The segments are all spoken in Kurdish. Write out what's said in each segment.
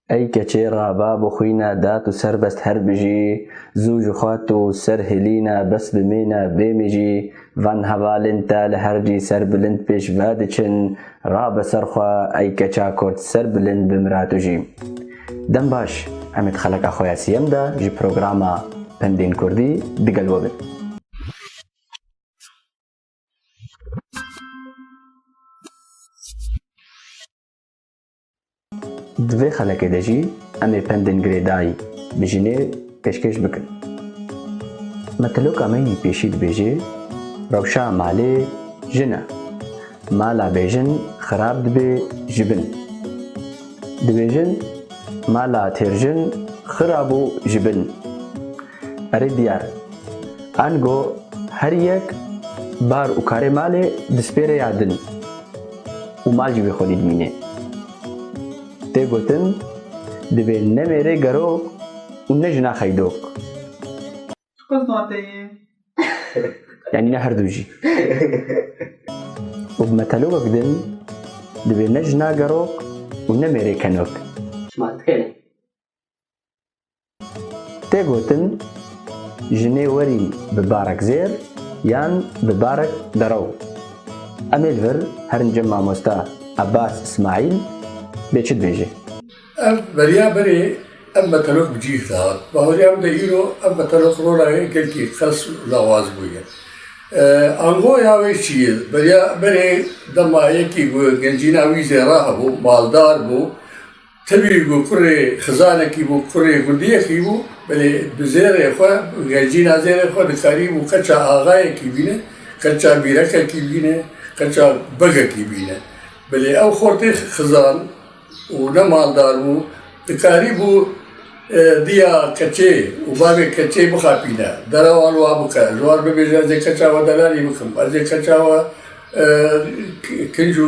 Ey keçê ra bab û xwîna da tu serbest her bijî, zû ji xwe tu ser hilîna bes bimêna bêmî jî van hevalên te li her cî ser bilind pêş ve diçin, rabe ser xwe ey keça kurd ser bilind bimira tu jî. Dem baş, em ê di xeleka xwe ya siyem de ji programa Pendên Kurdî digel we bin. Di vê xelekê de jî em ê pendên girêdayî bi jinê pêşkêş bikin. Me tiloka me yî pêşî dibêjê, Rewşa malê jin e. Mala bêjin xirab dibê ji bin. Dibêjin, Mala têrjin xirab û ji bin. Erê diyar. Ango her yek bar û karê malê dispêre ya din û mal jî wê xwedî dimîne. Tê gotin divê ne mêrê gerok û ne jina xeydok. Tu qe zade yî. Yanî ne her du jî. Û bi metelobek din divê ne jina gerok û ne mêrê kenok. Çima dikerê? Tê gotin, Jinê werî bi barek zêr yan bi barek derew. Em ê li vir herin cem mamosta Abbas Ismaîl bê çi dibêje. Ev beriya berê ev meteloq bi cîh dihat. Baweriya min de îro ev meteloq rora yê gelkî qels û lawaz bûye. Angoya wê çi ye? Beriya berê dema yekî ku gencîna wî zêra hebû, maldar bû, Tevî ku kurê xizanekî bû, kurê gundiyekî bû, belê bi zêrê xwe, bi gejîna zêrê xwe dikarîbû qeça axayekî bîne, qeça mîrekekî bîne, qeça begekî bîne. Belê ew xortê xizan û ne maldar bû, dikarîbû diya keçê û bavê keçê bixapîne, derewan wa bike, ji wan bibêje ez ê keça we delalî bikim, ez ê keça we kinc û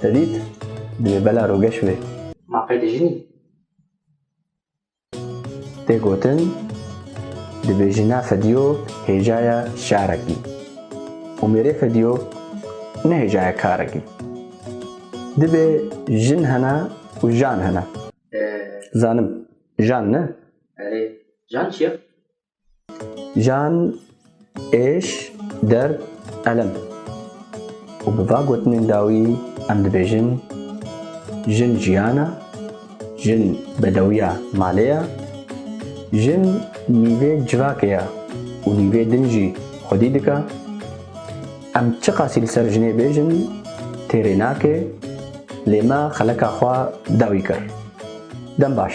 Te dît? Di bela rogeş wê. Ma qey di jinî? Tê gotin, dibêjina fedîyo hêjaya şarekî û mêrê fedîyo ne hêjaya karekî. Dibê jin hene û jan hene. Zanim, jan ne? Erê, jan çi ye? Jan, êş, derd, elem û bi va gotinên dawî em dibêjin jin jiyan e, jin bedewiya malê ye, jin nîvê civakê ye û nîvê din jî xwedî dike. Em çiqasî li ser jinê bêjin têrê nake lê me xeleka xwe dawî kir. Dem baş.